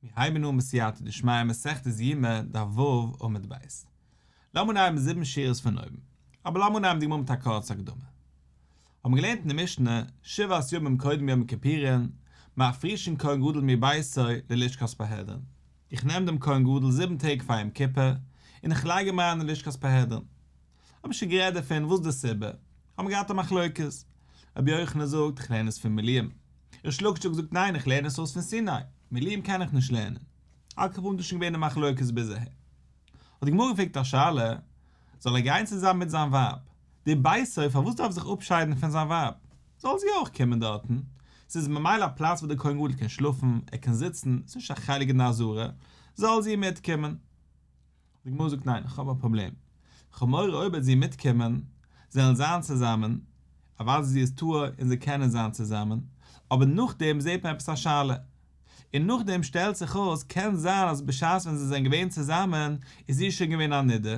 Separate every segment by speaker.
Speaker 1: מיר הייבן אן בסייעתא דשמיא מסכת יומא דף ו' עמוד ב'. לאמיר אנהייבן זיבן שורות פון אויבן. אבער לאמיר אנהייבן די גמרא מיט א קורצע הקדמה. האבן געלערנט אין די משנה, שבעת ימים קודם יום כיפורין, מ'אפרישן כהן גדול מביתו ללשכת פרהדרין. איך נעם דעם כהן גדול זיבן טעג פאר יום כיפור, און איך לייג אים אריין אין לשכת פרהדרין. האב איך שוין גערעדט דערפון וואס די סיבה, האבן געהאט א מחלוקת. רבי יוחנן זאגט, איך לערן עס פון מילים. ריש לקישוק זאגט, ניין, איך לערן עס אויס פון סיני, מילים קען איך נישט לערנען. על כל פנים דאס איז שוין געווען די מחלוקת ביז אהער. האט די גמרא געפרעגט א שאלה, זאל ער גיין צוזאמען מיט זיין ווייב? דער בית אב פארוואס דארף ער זיך אפשיידן פון זיין ווייב? זאל זי אויך קומען דארטן. ס'איז ממילא א פלאץ וואו דער כהן גדול קען שלאפן, ער קען זיצן, ס'איז נישט א חלק די נאזורה, זאל זי מיטקומען. די גמרא זאגט ניין, איך האב א פראבלעם, איך האב מורא אויב וועט זי מיטקומען, זענען זיין צוזאמען, אוודאי זי איז טהור און זיי קענען זיין צוזאמען, אבער נאכדעם זעט מען עפעס א שאלה, און נאכדעם שטעלט זיך אויס קען זיין אז בשעת ווען זיי זענען געווען צוזאמען איז זי שוין געווען א נדה,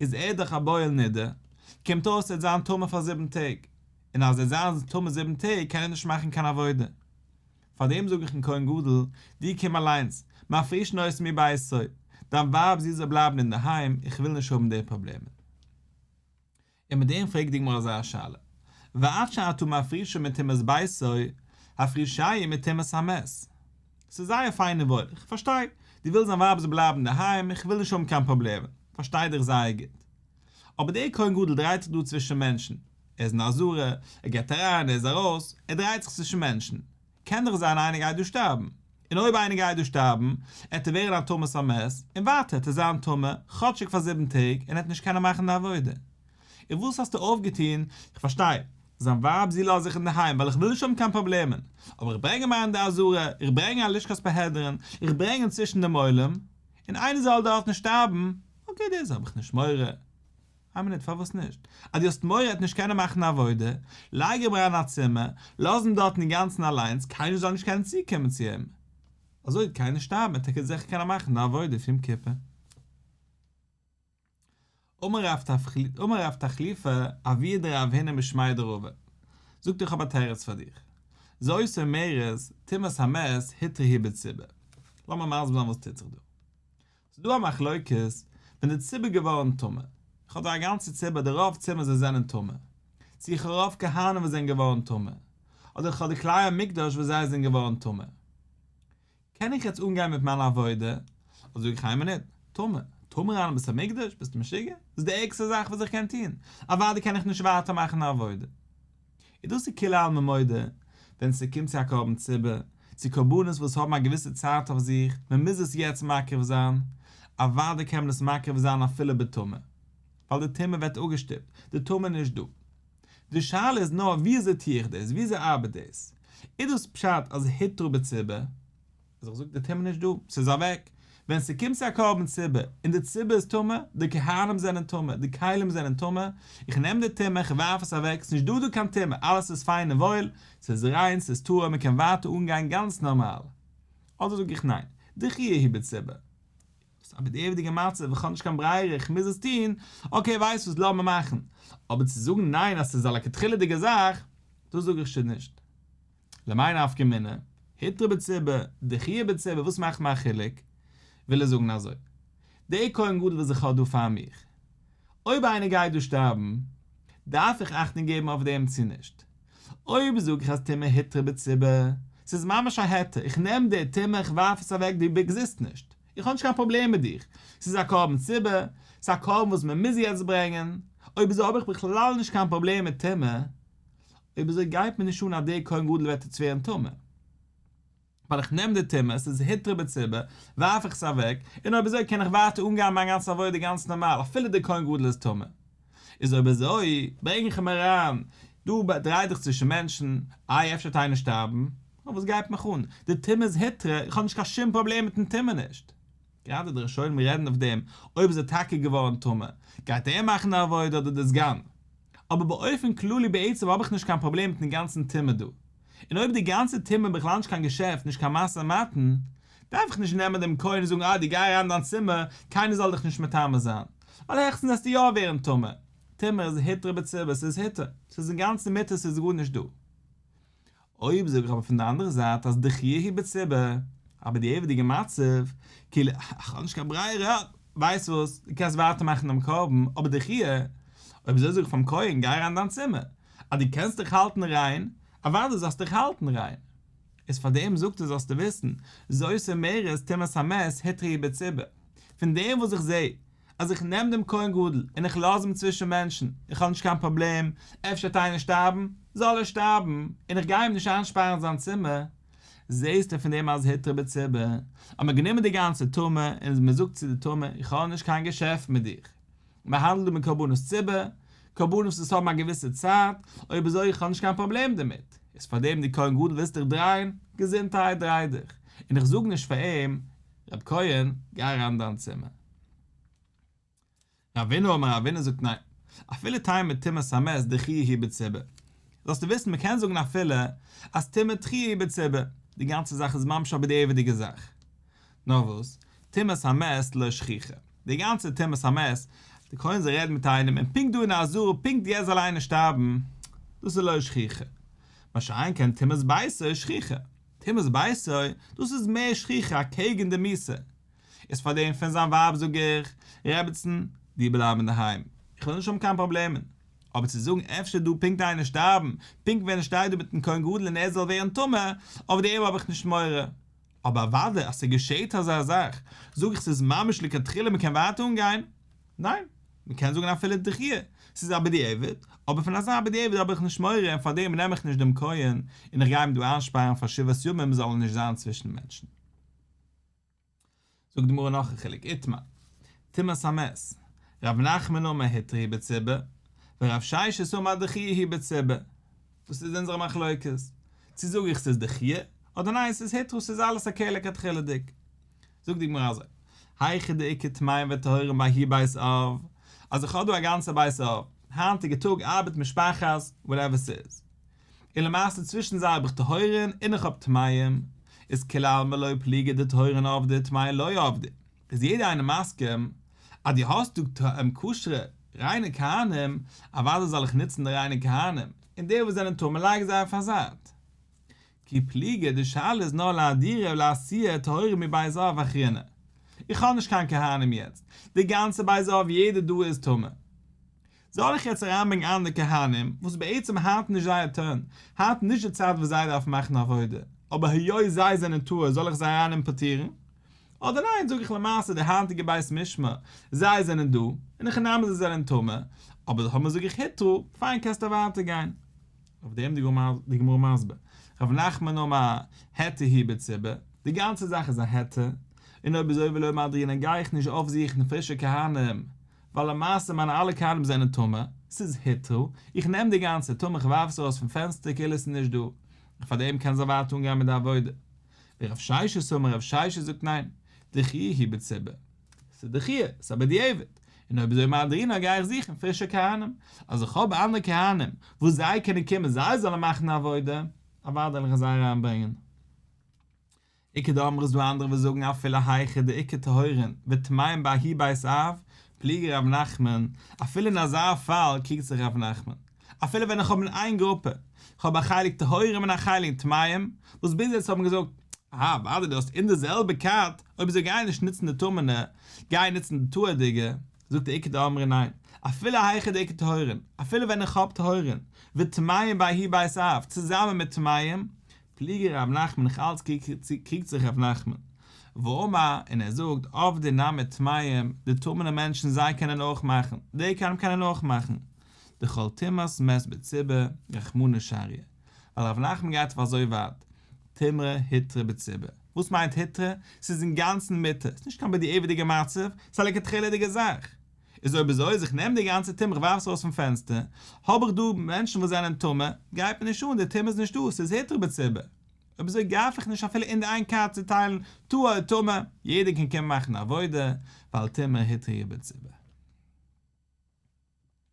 Speaker 1: איז ער דאך א בועל נדה, קומט אויס ער וועט זיין טמא פאר זיבן טעג, און אז ער וועט זיין טמא זיבן טעג קען ער נישט מאכן קיין עבודה, פאר דעם זאג איך אין כהן גדול, דו קום אליינס, מאך פריש נוירסי מבית, דיין ווייב זי זאל בלייבן אינדערהיים, איך וויל נישט האבן די פראבלעמען. און מיט דעם פרעגט די גמרא אזא שאלה, ואפשר אתה מפרישו מטומאת ביתו, הפרישיה מטומאת המת. ס'איז זייער פיין און וואויל, איך פארשטיי, דו ווילסט דיין ווייב זאל בלייבן אינדערהיים, איך וויל נישט האבן קיין פראבלעמען, פארשטיי דיך זייער גוט. אבער דער כהן גדול דרייט זיך דא צווישן מענטשן, ער איז אין א זארע, ער גייט אריין, ער איז ארויס, ער דרייט זיך צווישן מענטשן, קען דאך זיין איינער גייט דא שטארבן, און אויב איינער גייט דא שטארבן, עט ער ווערן א תמות המת, און ווייטער עט ער זיין טמא, כאטשיג פאר זיבן טעג, און עט נישט קענען מאכן די עבודה. און וואס האסטו אויפגעטון? איך פארשטיי, זיין ווייב זי לאז איך אינדערהיים, ווייל איך וויל נישט האבן קיין פראבלעמען, אבער איך ברענג אים אריין אין די א זארע, איך ברענג א לשכת פארהעדערן, איך ברענג אים צווישן דעם עולם, און איינער זאל דארט נישט שטארבן, אקעי דאס האב איך נישט מורא. איין מינוט פארוואס נישט? אז דו האסט מורא עט נישט קענען מאכן א עבודה, לייג אים אריין אין א צימער, לאז אים דארטן אינגאנצן אליינס, קיינער זאל נישט קענען צוקומען צו אים, אזוי וועט קיינער שטארבן עט טאקע זיכער קענען מאכן די עבודה אויף יום כיפור. אמר רב תחליפה אביא דרב הנה משמיה דרבה, זאגט איך האב א תירוץ פאר דיר, זה עושה מרת טומאת המת היתרי היא בציבור, לאמיר מסביר זיין וואס טוט זיך דא. ס'איז דא א מחלוקת ווען די ציבור איז געווארן טמא, איך האב דא א גאנצע ציבור די רוב צימעס וואס זענען טמא, צו איך האב רוב כהנים וואס זענען געווארן טמא, אדער איך האב די כלי המקדש וואס זיי זענען געווארן טמא. קען איך יעצט אנגיין מיט מיין עבודה? אדער זאג איך איין מינוט, טמא, טמא ריין אין בית המקדש? ביסטו משוגע? דאס איז די ערגסטע זאך וואס איך קען טון, אוודאי קען איך נישט ווייטער מאכן די עבודה. איז דאס איז כולי עלמא מודה, ווען ס'קומט צו א קרבן ציבור, צו קרבנות וואס האבן א געוויסע צייט אויף זיך, מען מוז עס יעצט מקריב זיין, אוודאי קען מען עס מקריב זיין אפילו בטומאה, ווייל די טומאה ווערט אפגעשטופט, די טומאה איז נישט דא. די שאלה איז נאר וויאזוי טו איך דאס, וויאזוי ארבעט דאס? איז דאס פשט אז היתרו בציבור? איז איך זאג די טומאה נישט דא, ס'איז אוועק. ווען ס'קומט צו א קרבן ציבור, און די ציבור איז טמא, די כהנים זענען טמא, די כלים זענען טמא, איך נעם די טומאה, איך ווארף עס אוועק, ס'איז נישט דא דא קיין טומאה, אלעס איז פיין און וואויל, ס'איז ריין, ס'איז טהור, מ'קען ווייטער אנגיין גאנץ נארמאל. אדער זאג איך ניין, די חי' איז בציבור. ס'איז א בדיעבד'יגע מצב, איך האב נישט קיין ברירה, איך מוז עס טון, אקעי ווייסט וואס לאמיר מאכן. אבער צו זאגן ניין אז ס'איז א לכתחילה'דיגע זאך, דאס זאג איך שוין נישט. למאי נפקא מינה, היתר בציבור, דחייה בציבור, וואס מאכט מיין חילוק? וויל ער זאגן אזוי, די כהן גדול וואס איך האב דא פאר מיך, אויב איינער גייט דא שטארבן, דארף איך אכטונג געבן אויף דעם צו נישט? אויב זאג איך אז טומאה היתר בציבור, ס'איז ממש א היתר, איך נעם די טומאה, איך ווארף עס אוועק, דו עקזיסט נישט, איך האב נישט קיין פראבלעם מיט דיך, ס'איז א קרבן ציבור, ס'איז א קרבן וואס מ'מוז יעצט ברענגען, אויב אזוי האב איך בכלל נישט קיין פראבלעם מיט טומאה, אויב אזוי גייט מיר נישט אן אז דער כהן גדול וועט איצט ווערן טמא. ווייל איך נעם די טומאה, ס'איז היתר בציבור, ווארף איך עס אוועק, און אויב אזוי קען איך ווייטער אנגיין מיין גאנצע עבודה גאנץ נארמאל אפילו דער כהן גדול איז טמא. איז אויב אזוי ברענג איך אים אריין, דו דריי דיך צווישן מענטשן, איי אפשר וועט איינער שטארבן? נו וואס גייט מיך אן? די טומאה איז היתרה, איך האב נישט קיין שום פראבלעם מיט'ן טומאה נישט. גראדע די ראשונים רעדן אויף דעם אויב איז ער טאקע געווארן טמא גייט ער מאכן א עבודה אדער די סגן. אבער באופן כללי בעצם האב איך נישט קיין פראבלעם מיטן גאנצן טעמע דא. און אויב די גאנצע טעמע איז בכלל נישט קיין געשעפט נישט קיין משא מתן דארף איך נישט נעמען דעם כהן און זאגן אה דו גיי אריין אין דיין צימער קיינער זאל דיך נישט מטמא זיין ווייל העכסטנס וועסטו יא ווערן טמא. טמא איז היתר בצבע ס'איז היתר ס'איז אינגאנצן מותר ס'איז גארנישט דא אויב זאג איך אבער פון די אנדערע זייט אז דכ י הי' בציבה, אבער די עבד'יגע מצב, כאילו איך האב נישט קיין ברירה, ווייסט וואס, דו קענסט ווייטער מאכן דעם קרבן, אבער דכ י, אויב אזוי זאג איך פאר'ן כהן גיי אריין אין דיין צימער, אז דו קענסט דיך האלטן ריין, אוודאי זאלסטו דיך האלטן ריין. איז פאר דעם זאגט ער זאלסטו וויסן, זו עושה מרת טומאת המת היתר הי' בציבה, פון דעם וואס איך זעה אז איך נעם דעם כהן גדול און איך לאז אים צווישן מענטשן, איך האב נישט קיין פראבלעם, אפשר וועט איינער שטארבן, זאל ער שטארבן, און איך גיי אים נישט איינשפארן אין זיין צימער, זעסטו פון דעם אז היתר בציבור, האט מען גענומען די גאנצע טומאה, און מען זאגט צו די טומאה, איך האב נישט קיין געשעפט מיט דיך, מען האנדלט דא מיט קרבנות ציבור, קרבנות וואס האבן א געוויסע צייט, אויב אזוי איך האב נישט קיין פראבלעם דערמיט, איז פארדעם די כהן גדול ווילסט דיך דרייען, געזונטהייט דריי דיך, און איך זאג נישט פאר אים, רב כהן, גיי אריין אין דיין צימער. רבינו אמר רבינו זאגט ניין, אפילו תהי' מיט טומאת המת דחי' היא בציבור. זאלסטו וויסן מען קען זאגן אפילו אז טומאה תחי' היא בציבור, די גאנצע זאך איז ממש א בדיעבד'יגע זאך. נאר וואס, טומאת המת לא שכיחא. די גאנצע טומאת המת, די כהן זאל רעדן מיט איינעם און פונקט דא אין א זאל פונקט יעצט זאל איינער שטארבן, דאס איז לא שכיחא. מה שאין כן טומאת בייסע איז שכיחא. תימוס בעשוי, דאס איז מער שכיח'ער אקעגן די מיסה, איז פאר דעם פון זיין ווייב זאג איך, רעבעצן, דיר בלייבן אינדערהיים, איך וועל נישט האבן קיין פראבלעמען, אבער צו זאגן אפשר דא פונקט איינער שטארבן, פונקט ווען איך שטיי דא מיטן כהן גדול און ער זאל ווערן טמא, אויף דעם האב איך נישט מורא, אבער אוודאי אז ס'געשעהט אזא זאך, זאג איך ס'איז ממש לכתחילה מ'קען ווייטער אנגיין. ניין, מען קען זאגן אפילו דחי', ס'איז א בדיעבד, אבער פון אזא בדיעבד האב איך נישט מורא און פארדעם נעם איך נישט דעם כהן און איך גיי אים דא איינשפארן פאר שבעת ימים זאל ער נישט זיין צווישן מענטשן. זאגט די גמרא נאך א חילוק, איתמר, טומאת המת, ר' נחמן אומר היתר היא בציבור, ור' ששת אומר דחי' היא בציבור, וואס איז אונזער מחלוקת? צו זאג איך ס'איז דחי', אדער ניין ס'איז היתר ס'איז אלעס א קהלה כתחילה'דיג. זאגט די גמרא אזוי, היכי דאיכא טמאים וטהורים בהאי בית אב, אז איך האב דא א גאנצע בית אב, היינטיגע טאג ארבעט משפחת וואטעווער ס'איז, און למעשה צווישן זיי האב איך טהורין און איך האב טמאים, איז כולי עלמא לא פליגי דטהורין אבדי וטמאי לא אבדי, איז יעדער איינער מסכים אז דו האסט דא כשר'ע ריינע כהנים, אוודאי זאל איך נוצן די ריינע כהנים, און די וואס זענען טהור מ'לייג זיי אויף א זייט. כי פליגי, די שאלה איז נאר לאדירה ולעשייה טהורה מבית אב אחרינא. איך האב נישט קיין כהנים יעצט, די גאנצע בית אב יעדער דא איז טמא. זאל איך יעצט אריינברענגן אנדערע כהנים, וואס בעצם היינט נישט זייער טורן, היינט נישט די צייט וואס זיי דארפן מאכן עבודה, אבער היות זיי זענען טהור זאל איך זיי אריין אימפארטירן? אדער ניין זאג איך למעשה די היינטיגע בית משמע, זיי זענען דא, און איך נעם אז זיי זענען טמא, אבער זיי האבן זאג איך היתרו, פיין קענסט אווער גיין. אויף דעם די גמרא מסביר, רב נחמן אמר העתה היא בציבה, די גאנצע זאך איז א העתה, און אויב אזוי ולא מדרינן גיי איך נישט אויפזוכן פרישע כהנים, ווייל למעשה מיינע אלע כהנים זענען טמא, ס'איז היתרו, איך נעם די גאנצע טומאה איך ווארף עס ארויס פון פענסטער כאילו עס איז נישט דא, און פאר דעם קענען זיי ווייטער אנגיין מיט די עבודה. ורב ששת אומר רב ששת זאגט ניין, דכי היא בציבה. ס'איז א דחי', ס'איז א בדיעבד, און אויב איז ער מהדרין א גיי איך זוכן פרישע כהנים, אז איך האב אנדערע כהנים וואס זיי קענען קומען זיי זאלן מאכן די עבודה, אוודאי וועל איך זיי אריין ברענגען. עיקר דאמר איז דא אנדערע וואס זאגן אפילו היכי דאיקא טהורין וטמאין באי בית אב, פליגער ר' נחמן, אפילו אין אזא פאל קריגט זיך ר' נחמן. אפילו ווען איך האב אין איין גרופע, איך האב א חלק טהורים און א חלק טמאים, וואס ביז יעצט האבן געזאגט, אהא, אוודאי דו האסט אין די זעלבע קאט, אויב זיי גייען נישט נוצן די טמא'נע, גיי נוצן די טהור'דיגע, זאגט די עיקר דאמרין ניין, אפילו היכי די עיקר טהורין, אפילו ווען איך האב טהורין, וטמאים ביי אהיב בית אב, צוזאמען מיט טמאים, פליגער ר' נחמן נאך אלץ קריגט זיך ר' נחמן, ואומר, און ער זאגט, עובדי נ מיט טמאים, די טמא'נע מענטשן זיי קענען אויך מאכן, די קאנם קענען אויך מאכן, דכל תימאס מעסט בציבה רחמנא שריא, ווייל רבי נחמן גייט אויף אזוי ווייט, תימרא היתרא בציבה, וואס מיינט היתרא? ס'איז אינגאנצן מיתה, ס'איז נישט קיין בדיעבד'יגע מצב, ס'איז א לכתחילה'דיגע זאך. איז אויב איז אויס, איך נעם די גאנצע טומאה איך ווארף עס ארויס פון פענסטער, האב איך דא מענטשן וואס זענען טמא, גייט מיר נישט אן, די טומאה איז נישט דא, ס'איז היתרא בציבה. אויב איז אזוי גארף איך נישט אפילו אין די איין קארט צוטיילן טהור אדער טמא, יעדער קען קומען מאכן עבודה, ווייל תימרא היתרא בציבה.